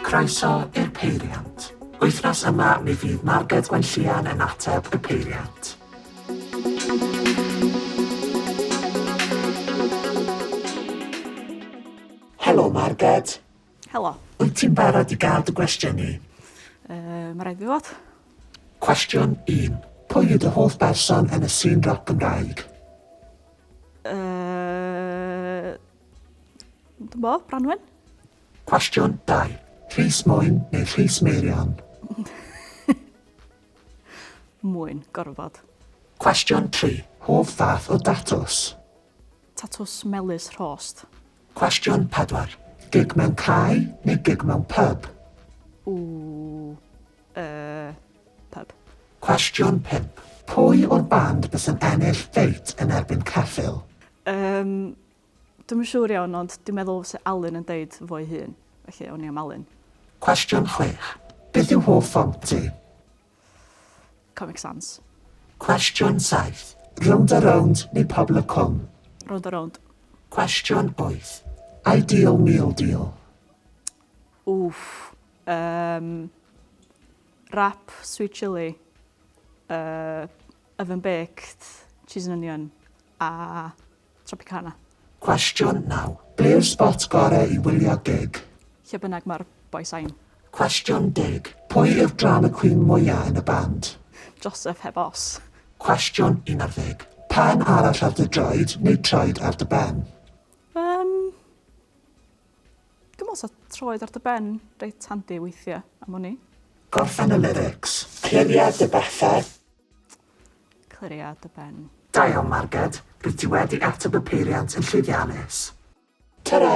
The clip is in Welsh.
Croeso i'r Peiriant. Wythnos yma mi fydd Marged Gwenllian yn ateb y peiriant. Helo Marged. Helo. Wyt ti'n barod i gael dy gwestiynu? Yy, mae rhaid fi fod. Cwestiwn 1. Pwy yw dy hoff berson yn y sîn roc Gymraeg? Yy... Dwi'n bo, Branwen? Cwestiwn 2. Rhys Mwyn neu Rhys Meirion? Mwyn, gorfod. Cwestiwn 3. Hoff fath o datws? Tatws melys rhost. Cwestiwn 4, Gig mewn cae neu gig mewn pyb? Ooh. Yy. Pyb. Cwestiwn 5, Pwy o'r band bys yn ennill ffeit yn erbyn ceffyl? Yym. Dwi'm yn siŵr iawn ond dwi'n meddwl fysa Alun yn deud fo'i hun. Felly, awn ni am Alun. Cwestiwn 6, Beth yw hoff font ti? Comic Sans. Cwestiwn 7, Rownd a Rownd neu Pobl y Cwm? Rownd a Rownd. Cwestiwn 8, Ideal Meal Deal? Wff, um, wrap, sweet chilli, uh, oven baked, cheese and onion, a Tropicana. Cwestiwn naw. Ble yw'r spot gorau i wylio gig? Lle bynnag mae'r boi sain. Cwestiwn deg. Pwy yw'r drama queen mwya yn y band? Joseph heb os. Cwestiwn un ar ddeg. Pen arall ar dy droed neu troed ar dy ben? Yym. Dwi'n meddwl 'sa troed ar dy ben reit handi weithiau am wn i. Gorffen y lyrics. Cliried dy bethau. Clirio dy ben. Da iawn Marged, rwyt ti wedi ateb y peiriant yn llwyddiannus. Tara!